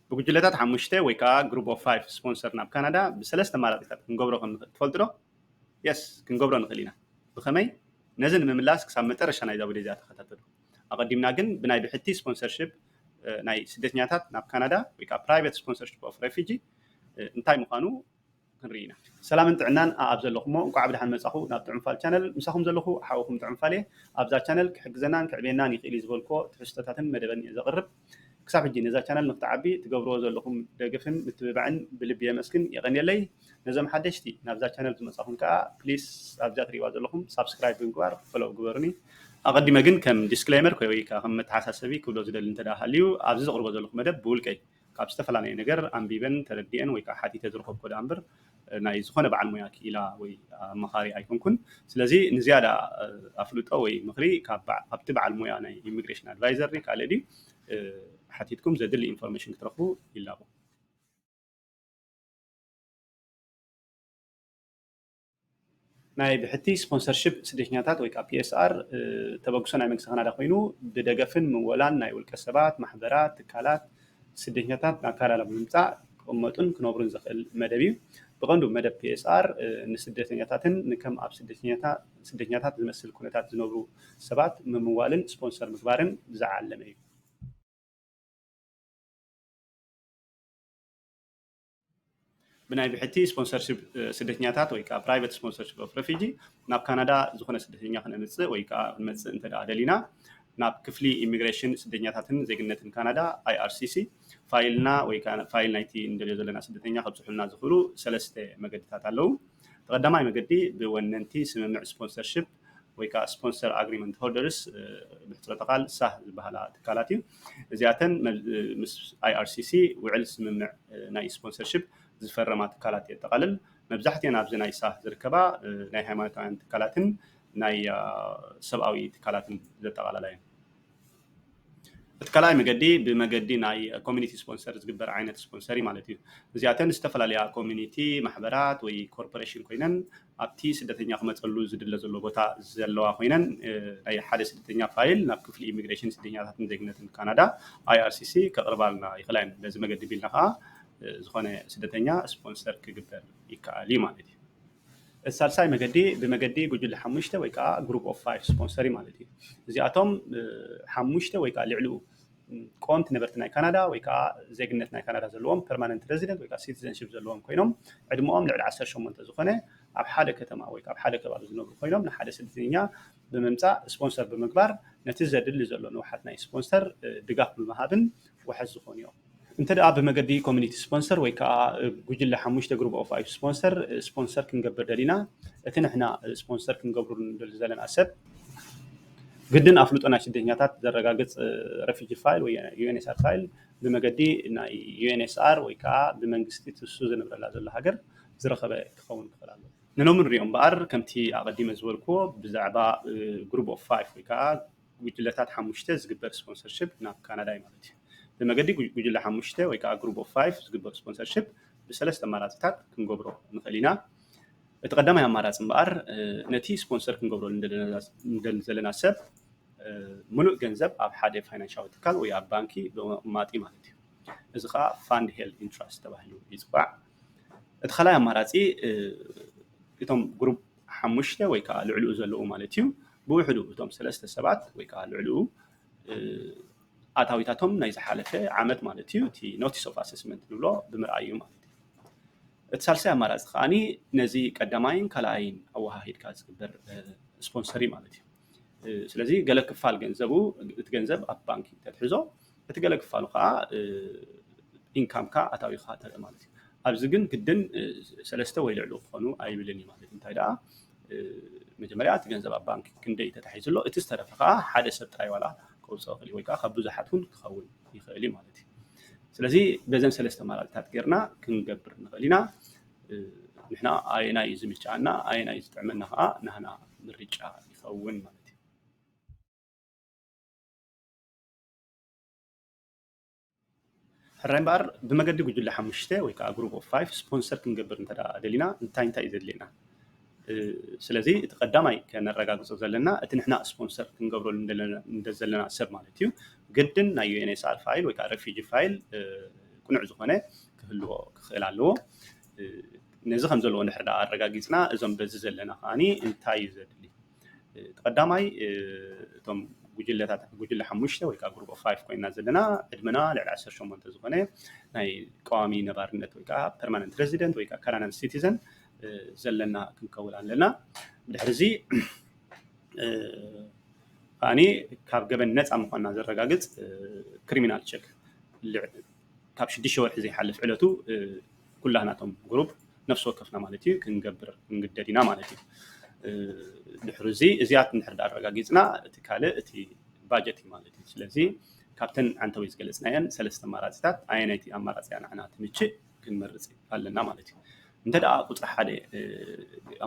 ብጉጅለታት ሓሙሽተ ወይ ከዓ ግሩፕ ኦፍ ፋይቭ ስፖንሰር ናብ ካናዳ ብሰለስተ ኣማራፂታት ክንገብሮ ከም ንኽእል ትፈልጡ ዶ? የስ ክንገብሮ ንኽእል ኢና። ብኸመይ? ነዚ ንምምላስ ክሳብ መጨረሻ ናይዛ ቪድዮ እዚኣ ተኸታተሉ። ኣቐዲምና ግን ብናይ ብሕቲ ስፖንሰርሽፕ ናይ ስደተኛታት ናብ ካናዳ ወይ ከዓ ፕራይቬት ስፖንሰርሽፕ ኦፍ ሬፊጂ እንታይ ምዃኑ ክንርኢ ኢና። ሰላምን ጥዕናን ኣኣብ ዘለኹሞ እንቋዕ ብደሓን መጻኹ ናብ ጥዑም ፋል ቻነል ምሳኹም ዘለኹ ሓውኹም ጥዑም ፋል እየ ኣብዛ ቻነል ክሕግዘናን ከዕብየናን ይኽእል እዩ ዝበልክዎ ትሕዝቶታትን መደበን እየ ዘቕርብ ክሳብ ሕጂ ነዛ ቻነል ንክትዓቢ ትገብርዎ ዘለኹም ደገፍን ምትብባዕን ብልቢ የመስግን የቐንየለይ ነዞም ሓደሽቲ ናብዛ ቻነል ዝመጻኹም ከኣ ፕሊስ ኣብዛ ትሪእዋ ዘለኹም ሳብስክራይብ ብምግባር ፈሎው ግበሩኒ ኣቐዲመ ግን ከም ዲስክሌመር ወይ ከኣ ከም መተሓሳሰቢ ክብሎ ዝደሊ እንተ ሃልዩ ኣብዚ ዘቕርቦ ዘለኹ መደብ ብውልቀይ ካብ ዝተፈላለየ ነገር ኣንቢበን ተረዲኤን ወይ ከዓ ሓቲተ ዝረኸብኩዎ ደኣ እምበር ናይ ዝኾነ በዓል ሞያ ክኢላ ወይ ኣማኻሪ ኣይኮንኩን። ስለዚ ንዝያዳ ኣፍልጦ ወይ ምኽሪ ካብቲ በዓል ሞያ ናይ ኢሚግሬሽን ኣድቫይዘር ድዩ ካልእ ድዩ ሓቲትኩም ዘድሊ ኢንፎርሜሽን ክትረኽቡ ይላቦ። ናይ ብሕቲ ስፖንሰርሺፕ ስደተኛታት ወይ ከዓ PSR ተበግሶ ናይ መንግስቲ ካናዳ ኮይኑ ብደገፍን ምወላን ናይ ውልቀ ሰባት፣ ማሕበራት፣ ትካላት ስደተኛታት ናብ ካናዳ ብምምፃእ ክቕመጡን ክነብሩን ዘኽእል መደብ እዩ። ብቐንዱ መደብ PSR ንስደተኛታትን ንከም ኣብ ስደተኛታት ዝመስል ኩነታት ዝነብሩ ሰባት ምምዋልን ስፖንሰር ምግባርን ዝዓለመ እዩ። ብናይ ብሕቲ ስፖንሰርሽፕ ስደተኛታት ወይ ከዓ ፕራይቨት ስፖንሰርሽፕ ኦፍ ረፊጂ ናብ ካናዳ ዝኾነ ስደተኛ ክነምፅእ ወይ ከዓ ክንመፅእ እንተ ደሊና ናብ ክፍሊ ኢሚግሬሽን ስደተኛታትን ዜግነትን ካናዳ ኣይኣርሲሲ ፋይልና ወይ ከዓ ፋይል ናይቲ እንደልዮ ዘለና ስደተኛ ከብፅሑልና ዝኽእሉ ሰለስተ መገድታት ኣለዉ እቲ ቀዳማይ መገዲ ብወነንቲ ስምምዕ ስፖንሰርሽፕ ወይ ከዓ ስፖንሰር ኣግሪመንት ሆልደርስ ብሕፅረተ ቃል ሳህ ዝበሃላ ትካላት እዩ እዚኣተን ምስ IRCC ውዕል ስምምዕ ናይ ስፖንሰርሽፕ ዝፈረማ ትካላት የጠቓልል መብዛሕትኤን ኣብዚ ናይ ሳህ ዝርከባ ናይ ሃይማኖታውያን ትካላትን ናይ ሰብኣዊ ትካላትን ዘጠቓላላ እየን እቲ ካልኣይ መገዲ ብመገዲ ናይ ኮሚኒቲ ስፖንሰር ዝግበር ዓይነት ስፖንሰር እዩ ማለት እዩ። እዚኣተን ዝተፈላለያ ኮሚኒቲ ማሕበራት ወይ ኮርፖሬሽን ኮይነን ኣብቲ ስደተኛ ክመፀሉ ዝድለ ዘሎ ቦታ ዘለዋ ኮይነን ናይ ሓደ ስደተኛ ፋይል ናብ ክፍሊ ኢሚግሬሽን ስደተኛታትን ዜግነትን ካናዳ IRCC ከቕርባልና ይኽእላ እየን። በዚ መገዲ ኣቢልና ከዓ ዝኾነ ስደተኛ ስፖንሰር ክግበር ይከኣል እዩ ማለት እዩ። እቲ ሳልሳይ መገዲ ብመገዲ ጉጅለ ሓሙሽተ ወይ ከዓ Group of Five ስፖንሰሪ ማለት እዩ። እዚኣቶም ሓሙሽተ ወይ ከዓ ልዕሊኡ ቆምቲ ነበርቲ ናይ ካናዳ ወይ ከዓ ዜግነት ናይ ካናዳ ዘለዎም ፐርማነንት ረዚደንት ወይ ከዓ ሲቲዘንሺፕ ዘለዎም ኮይኖም ዕድመኦም ልዕሊ ዓሰርተ ሸሞንተ ዝኾነ ኣብ ሓደ ከተማ ወይ ከዓ ኣብ ሓደ ከባቢ ዝነብሩ ኮይኖም ንሓደ ስደተኛ ብምምፃእ ስፖንሰር ብምግባር ነቲ ዘድሊ ዘሎ ንውሓት ናይ ስፖንሰር ድጋፍ ብምሃብን ዋሕስ ዝኾኑ እዮም። እንተድኣ ብመገዲ ኮሚኒቲ ስፖንሰር ወይ ከኣ ጉጅለ ሓሙሽተ ግሩብ ኦፍ ፋይፍ ስፖንሰር ስፖንሰር ክንገብር ደሊና እቲ ንሕና ስፖንሰር ክንገብሩ ንደሊ ዘለና ሰብ ግድን ኣፍልጦ ናይ ስደተኛታት ዘረጋግጽ ረፊጂ ፋይል ወይ ዩኤንኤስኣር ፋይል ብመገዲ ናይ ዩኤንኤስኣር ወይ ከኣ ብመንግስቲ ትሱ ዝነብረላ ዘሎ ሃገር ዝረኸበ ክኸውን ክኽእል ኣለዎ። ንሎሚ ንሪኦ እምበኣር ከምቲ ኣቐዲመ ዝበልክዎ ብዛዕባ ግሩብ ኦፍ ፋይፍ ወይ ከኣ ጉጅለታት ሓሙሽተ ዝግበር ስፖንሰርሺፕ ናብ ካናዳ እዩ ማለት እዩ። ብመገዲ ጉጅለ ሓሙሽተ ወይ ከዓ ግሩፕ ኦፍ ፋይቭ ዝግበር ስፖንሰርሺፕ ብሰለስተ ኣማራፂታት ክንገብሮ ንኽእል ኢና። እቲ ቀዳማይ ኣማራፂ እምበኣር ነቲ ስፖንሰር ክንገብሮ ንደሊ ዘለና ሰብ ምሉእ ገንዘብ ኣብ ሓደ ፋይናንሻዊ ትካል ወይ ኣብ ባንኪ ብምቕማጥ እዩ ማለት እዩ እዚ ከዓ ፋንድ ሄልድ ኢንትራስት ተባሂሉ ይፅዋዕ እቲ ካልኣይ ኣማራፂ እቶም ግሩፕ ሓሙሽተ ወይ ከኣ ልዕልኡ ዘለዉ ማለት እዩ፣ ብውሕዱ እቶም ሰለስተ ሰባት ወይ ከኣ ልዕልኡ ኣታዊታቶም ናይ ዝሓለፈ ዓመት ማለት እዩ፣ እቲ ኖቲስ ኦፍ ኣሰስመንት ንብሎ ብምርኣይ እዩ ማለት እዩ። እቲ ሳልሳይ ኣማራጺ ከኣ ነዚ ቀዳማይን ካልኣይን ኣወሃሂድካ ዝግበር ስፖንሰር እዩ ማለት እዩ። ስለዚ ገለ ክፋል ገንዘቡ እቲ ገንዘብ ኣብ ባንኪ ተትሕዞ እቲ ገለ ክፋሉ ከዓ ኢንካምካ ኣታዊካ ተርኢ ማለት እዩ ኣብዚ ግን ግድን ሰለስተ ወይ ልዕሉ ክኾኑ ኣይብልን እዩ ማለት እንታይ ደኣ መጀመርያ እቲ ገንዘብ ኣብ ባንኪ ክንደይ ተታሒዙ ኣሎ እቲ ዝተረፈ ከዓ ሓደ ሰብ ጥራይ ዋላ ከውፅኦ ክእል እዩ ወይ ከዓ ካብ ብዙሓት እውን ክኸውን ይኽእል እዩ ማለት እዩ ስለዚ በዘን ሰለስተ ኣማራፅታት ጌርና ክንገብር ንኽእል ኢና ንሕና ኣየናይ እዩ ዝምችኣና ኣየናይ እዩ ዝጥዕመና ከዓ ናህና ምርጫ ይኸውን ማለት እዩ። ሕራይ እምበኣር ብመገዲ ጉጅለ ሓሙሽተ ወይ ከዓ ግሩፕ ኦፍ ፋይቭ ስፖንሰር ክንገብር እንተ ደሊና እንታይ እንታይ እዩ ዘድልየና? ስለዚ እቲ ቀዳማይ ከነረጋግፆ ዘለና እቲ ንሕና ስፖንሰር ክንገብረሉ ዘለና ሰብ ማለት እዩ ግድን ናይ ዩኤንኤስኣር ፋይል ወይ ከዓ ረፊጂ ፋይል ቅኑዕ ዝኾነ ክህልዎ ክኽእል ኣለዎ። ነዚ ከም ዘለዎ እንድሕር ደኣ ኣረጋጊጽና እዞም በዚ ዘለና ከኣ እንታይ እዩ ዘድሊ እቲ ቀዳማይ እቶም ጉጅለታት ጉጅለ ሓሙሽተ ወይ ከዓ ግሩፕ ፋይፍ ኮይና ዘለና ዕድመና ልዕሊ ዓሰርተ ሸሞንተ ዝኾነ ናይ ቀዋሚ ነባርነት ወይ ከዓ ፐርማነንት ሬዚደንት ወይ ከዓ ካናዳን ሲቲዘን ዘለና ክንከውን ኣለና ድሕሪ እዚ ከዓኒ ካብ ገበን ነፃ ምኳንና ዘረጋግፅ ክሪሚናል ቸክ ካብ ሽዱሽተ ወርሒ ዘይሓልፍ ዕለቱ ኩላህና እቶም ጉሩብ ነፍሲ ወከፍና ማለት እዩ ክንገብር ክንግደድ ኢና ማለት እዩ። ድሕሪ እዚ እዚኣት እንድሕር ዳኣ ኣረጋጊጽና እቲ ካልእ እቲ ባጀት እዩ ማለት እዩ። ስለዚ ካብተን ዓንተወይ ዝገለጽናየን ሰለስተ ኣማራጺታት ኣየነይቲ ኣማራጺ እያ ንዓና ትምችእ ክንመርጽ ኣለና ማለት እዩ። እንተ ደኣ ቁጽሪ ሓደ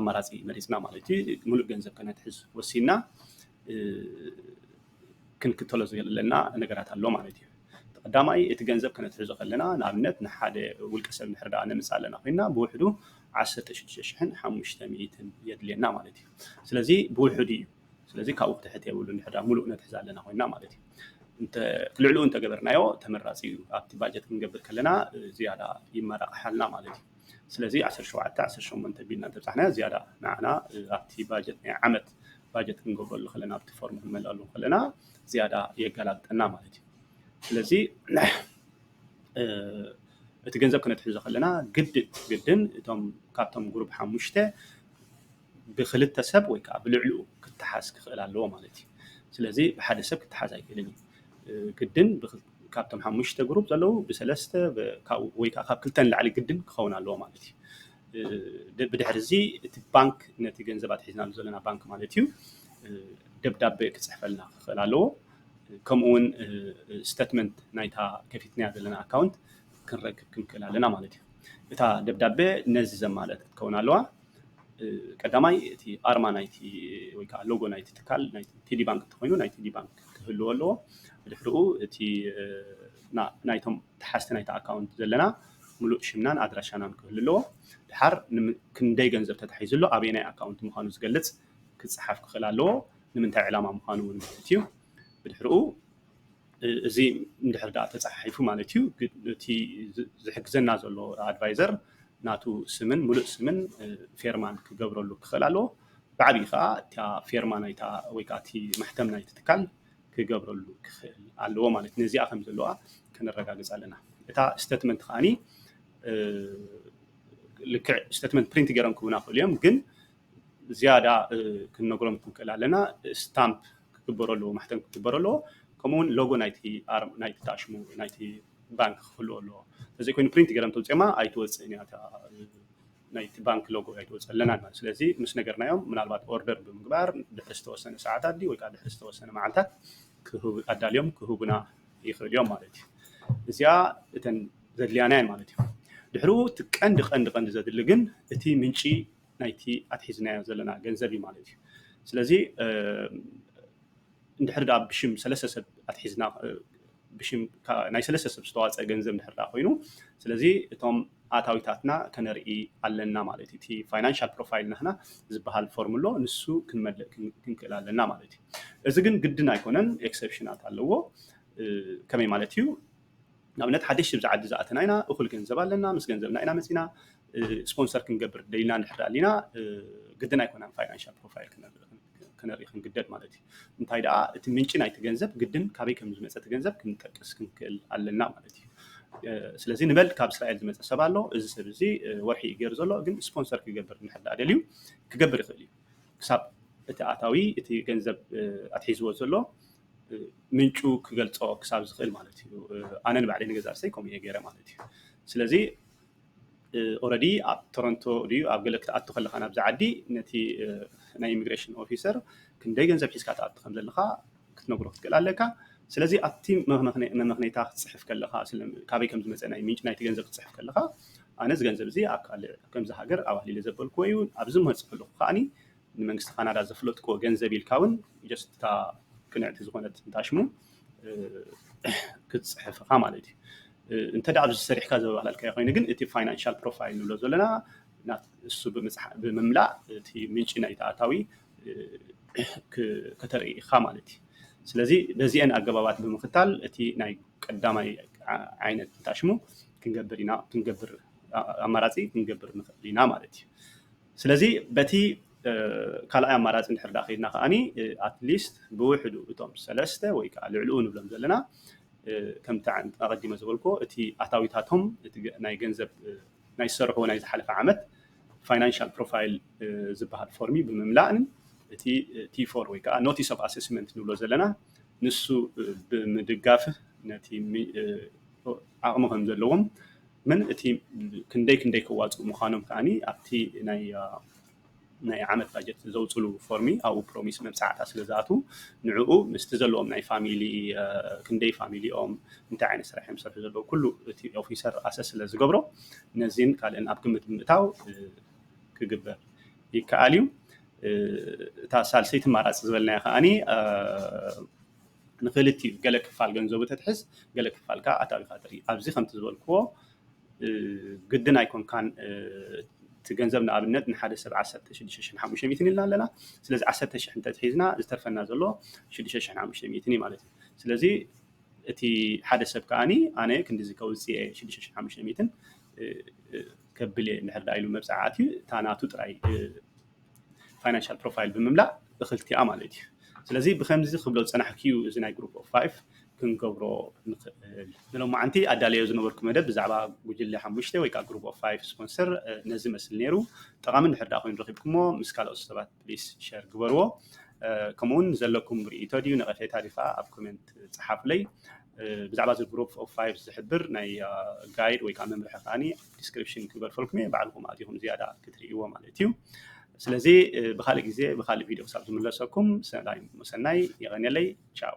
ኣማራጺ መሪጽና ማለት እዩ ምሉእ ገንዘብ ከነትሕዝ ወሲንና ክንክተሎ ዘሎና ነገራት ኣሎ ማለት እዩ። እቲ ቀዳማይ እቲ ገንዘብ ከነትሕዞ ከለና ንኣብነት ንሓደ ውልቀ ሰብ እንድሕር ደኣ ነምጽእ ኣለና ኮይና ብውሕዱ ዓሰርተ ሽዱሽተ ሽሕን ሓሙሽተ ሚእትን የድልየና ማለት እዩ። ስለዚ ብውሕዱ እዩ። ስለዚ ካብኡ ክትሕት የብሉ እንድሕር ደኣ ምሉእ ነትሕዝ ኣለና ኮይና ማለት እዩ። እንተ ልዕሊኡ እንተገበርናዮ ተመራጺ እዩ። ኣብቲ ባጀት ክንገብር ከለና ዝያዳ ይመራቕሓልና ማለት እዩ። ስለዚ ዓሰርተ ሸውዓተ ዓሰርተ ሸሞንተ ቢልና እንተብጻሕናዮ ዝያዳ ንዓና ኣብቲ ባጀት ናይ ዓመት ባጀት ክንገብረሉ ከለና ኣብቲ ፎርም ክንመልኣሉ ከለና ዝያዳ የገላብጠና ማለት እዩ ስለዚ እቲ ገንዘብ ክነትሕዞ ከለና ግድን ግድን እቶም ካብቶም ጉሩብ ሓሙሽተ ብክልተ ሰብ ወይ ከዓ ብልዕልኡ ክተሓዝ ክኽእል ኣለዎ ማለት እዩ ስለዚ ብሓደ ሰብ ክተሓዝ ኣይክእልን እዩ ግድን ካብቶም ሓሙሽተ ጉሩብ ዘለዉ ብሰለስተ ወይ ከዓ ካብ ክልተ ንላዕሊ ግድን ክኸውን ኣለዎ ማለት እዩ ብድሕሪ እዚ እቲ ባንክ ነቲ ገንዘብ ኣትሒዝናሉ ዘለና ባንክ ማለት እዩ ደብዳቤ ክፅሕፈልና ክኽእል ኣለዎ። ከምኡ እውን ስተትመንት ናይታ ከፊትናያ ዘለና ኣካውንት ክንረክብ ክንክእል ኣለና ማለት እዩ። እታ ደብዳቤ ነዚ ዘማልአት ክትከውን ኣለዋ። ቀዳማይ እቲ ኣርማ ናይቲ ወይ ከዓ ሎጎ ናይቲ ትካል ናይ ቴዲ ባንክ እንተኮይኑ ናይ ቴዲ ባንክ ክህልዎ ኣለዎ። ብድሕሪኡ እቲ ናይቶም ተሓዝቲ ናይቲ ኣካውንት ዘለና ምሉእ ሽምናን ኣድራሻናን ክህሉ ኣለዎ። ድሓር ክንደይ ገንዘብ ተታሒዙ ኣሎ፣ ኣበየናይ ኣካውንት ምዃኑ ዝገልጽ ክጸሓፍ ክኽእል ኣለዎ፣ ንምንታይ ዕላማ ምዃኑ እውን ማለት እዩ። ብድሕርኡ እዚ እንድሕር ደኣ ተጻሓሒፉ ማለት እዩ እቲ ዝሕግዘና ዘሎ ኣድቫይዘር ናቱ ስምን ምሉእ ስምን ፌርማን ክገብረሉ ክኽእል ኣለዎ። ብዓብዪ ከኣ እታ ፌርማ ናይታ ወይ ከኣ እቲ ማሕተም ናይቲ ትካል ክገብረሉ ክኽእል ኣለዎ ማለት ነዚኣ ከም ዘለዋ ከነረጋግፅ ኣለና። እታ ስተትመንት ከዓኒ ልክዕ ስተትመንት ፕሪንት ገይሮም ክቡና ክእሉ እዮም ግን ዝያዳ ክንነግሮም ክንክእል ኣለና ስታምፕ ክግበሮ ኣለዎ ማሕተም ክግበሮ ኣለዎ ከምኡውን ሎጎ ናይቲ ኣርም ናይቲ ታሽሙ ናይቲ ባንክ ክህልዎ ኣለዎ ተዘይኮይኑ ፕሪንት ገረም ተውፅማ ኣይትወፅእን እያ ናይቲ ባንክ ሎጎ ኣይትወፅ ኣለናን ማለት ስለዚ ምስ ነገርናዮም ምናልባት ኦርደር ብምግባር ድሕሪ ዝተወሰነ ሰዓታት ድዩ ወይ ከዓ ድሕሪ ዝተወሰነ መዓልታት ክህቡ ኣዳልዮም ክህቡና ይኽእሉ እዮም ማለት እዩ እዚኣ እተን ዘድልያና እየን ማለት እዩ ድሕሩ እቲ ቀንዲ ቀንዲ ቀንዲ ዘድሊ ግን እቲ ምንጪ ናይቲ ኣትሒዝናዮ ዘለና ገንዘብ እዩ ማለት እዩ ስለዚ እንድሕር ድኣ ብሽም ሰለስተ ሰብ ኣትሒዝና ብሽም ናይ ሰለስተ ሰብ ዝተዋፀ ገንዘብ እንድሕር ድኣ ኮይኑ ስለዚ እቶም ኣታዊታትና ከነርኢ ኣለና ማለት እዩ እቲ ፋይናንሻል ፕሮፋይል ናህና ዝበሃል ፎርም ኣሎ ንሱ ክንመልእ ክንክእል ኣለና ማለት እዩ እዚ ግን ግድን ኣይኮነን ኤክሰፕሽናት ኣለዎ ከመይ ማለት እዩ ንኣብነት ሓደሽቲ ኣብዚ ዓዲ ዝኣተና ኢና እኹል ገንዘብ ኣለና ምስ ገንዘብና ኢና መፂና ስፖንሰር ክንገብር ደሊና እንድሕር ኣሊና ግድን ኣይኮነን ፋይናንሻል ፕሮፋይል ክነርኢ ክንግደድ ማለት እዩ እንታይ ደኣ እቲ ምንጪ ናይቲ ገንዘብ ግድን ካበይ ከም ዝመፀ እቲ ገንዘብ ክንጠቅስ ክንክእል ኣለና ማለት እዩ ስለዚ ንበል ካብ እስራኤል ዝመፀ ሰብ ኣሎ እዚ ሰብ እዚ ወርሒ እዩ ገይሩ ዘሎ ግን ስፖንሰር ክገብር እንድሕር ደኣ ደልዩ ክገብር ይኽእል እዩ ክሳብ እቲ ኣታዊ እቲ ገንዘብ ኣትሒዝዎ ዘሎ ምንጩ ክገልፆ ክሳብ ዝኽእል ማለት እዩ ኣነ ንባዕለይ ንገዛ ርእሰይ ከምኡ እየ ገይረ ማለት እዩ ስለዚ ኦረዲ ኣብ ቶሮንቶ ድዩ ኣብ ገለ ክትኣቱ ከለካ ናብዚ ዓዲ ነቲ ናይ ኢሚግሬሽን ኦፊሰር ክንደይ ገንዘብ ሒዝካ ትኣቱ ከም ዘለካ ክትነግሮ ክትክእል ኣለካ ስለዚ ኣብቲ መመክነይታ ክትፅሕፍ ከለካ ካበይ ከም ዝመፀ ናይ ምንጭ ናይቲ ገንዘብ ክትፅሕፍ ከለካ ኣነ እዚ ገንዘብ እዚ ኣብ ካልእ ከምዚ ሃገር ኣዋህሊለ ዘበልክዎ እዩ ኣብዚ መፅእ ከለኩ ከዓኒ ንመንግስቲ ካናዳ ዘፍለጥክዎ ገንዘብ ኢልካ እውን ጀስት እታ ቅንዕቲ ዝኾነት እንታሽሙ ክትፅሕፍ ኢኻ ማለት እዩ እንተ ደኣ ኣብዚ ሰሪሕካ ዘበባላልካዮ ኮይኑ ግን እቲ ፋይናንሻል ፕሮፋይል ንብሎ ዘለና እሱ ብምምላእ እቲ ምንጪ ናይቲ ኣታዊ ከተርኢ ኢኻ ማለት እዩ ስለዚ በዚአን ኣገባባት ብምክታል እቲ ናይ ቀዳማይ ዓይነት ታሽሙ ክንገብር ኢና ክንገብር ኣማራፂ ክንገብር ንኽእል ኢና ማለት እዩ ስለዚ በቲ ካልኣይ ኣማራፂ እንድሕር ደኣ ከይድና ከኣ ኣትሊስት ብውሕዱ እቶም ሰለስተ ወይ ከዓ ልዕልኡ ንብሎም ዘለና ከምቲ ኣቐዲመ ዝበልኩዎ እቲ ኣታዊታቶም እቲ ናይ ገንዘብ ናይ ዝሰርሕዎ ናይ ዝሓለፈ ዓመት ፋይናንሻል ፕሮፋይል ዝበሃል ፎርሚ ብምምላእን እቲ ቲፎር ወይ ከዓ ኖቲስ ኦፍ ኣሴስመንት ንብሎ ዘለና ንሱ ብምድጋፍ ነቲ ዓቕሚ ከም ዘለዎም መን እቲ ክንደይ ክንደይ ከዋፅኡ ምዃኖም ከዓ ኣብቲ ናይ ዓመት ባጀት ዘውፅሉ ፎርሚ ኣብኡ ፕሮሚስ መብፃዕታ ስለ ዝኣትዉ ንዕኡ ምስቲ ዘለዎም ናይ ፋሚሊ ክንደይ ፋሚሊ እዮም እንታይ ዓይነት ስራሕ እዮም ዝሰርሑ ዘለዉ ኩሉ እቲ ኦፊሰር ኣሰስ ስለ ዝገብሮ ነዚን ካልእን ኣብ ግምት ብምእታው ክግበር ይከኣል እዩ እታ ሳልሰይቲ ማራፂ ዝበልናያ ከዓኒ ንክልቲኡ ገለ ክፋል ገንዘቡ ተትሕዝ ገለ ክፋል ከኣ ኣታዊካ ትርኢ ኣብዚ ከምቲ ዝበልክዎ ግድን ኣይኮንካን እቲ ገንዘብ ንኣብነት ንሓደ ሰብ ዓሰርተ ሽዱሽተ ሽሕን ሓሙሽተ ሚእትን ኢልና ኣለና ስለዚ ዓሰርተ ሽሕ እንተትሒዝና ዝተርፈና ዘሎ ሽዱሽተ ሽሕን ሓሙሽተ ሚእትን እዩ ማለት እዩ ስለዚ እቲ ሓደ ሰብ ከዓኒ ኣነ ክንዲዚ ከውፅእ እየ ሽዱሽተ ሽሕን ሓሙሽተ ሚእትን ከብል እየ እንድሕር ዳ ኢሉ መብፅዓ ኣትዩ እታ ናቱ ጥራይ ፋይናንሻል ፕሮፋይል ብምምላእ እኽልቲኣ ማለት እዩ ስለዚ ብከምዚ ክብሎ ዝፀናሕኩ እዩ እዚ ናይ ግሩፕ ኦፍ ፋይቭ ክንገብሮ ንኽእል ንሎማዓንቲ ኣዳለዮ ዝነበርኩ መደብ ብዛዕባ ጉጅለ ሓሙሽተ ወይ ከዓ ግሩፕ ኦፍ ፋይቭ ስፖንሰር ነዚ መስል ነይሩ ጠቓሚ እንድሕር ዳኣ ኮይኑ ረኺብኩሞ ምስ ካልኦት ሰባት ፕሊስ ሸር ግበርዎ ከምኡውን ዘለኩም ርእይቶ ድዩ ነቐፌታ ድዩ ከዓ ኣብ ኮሜንት ፀሓፍለይ ብዛዕባ እዚ ግሩፕ ኦፍ ፋይቭ ዝሕብር ናይ ጋይድ ወይ ከዓ መምርሒ ከዓኒ ዲስክሪፕሽን ክግበርፈልኩም እየ ባዕልኩም ኣቲኩም ዝያዳ ክትርእይዎ ማለት እዩ ስለዚ ብካልእ ግዜ ብካልእ ቪድዮ ክሳብ ዝምለሰኩም ሰናይ መሰናይ የቀንየለይ ቻው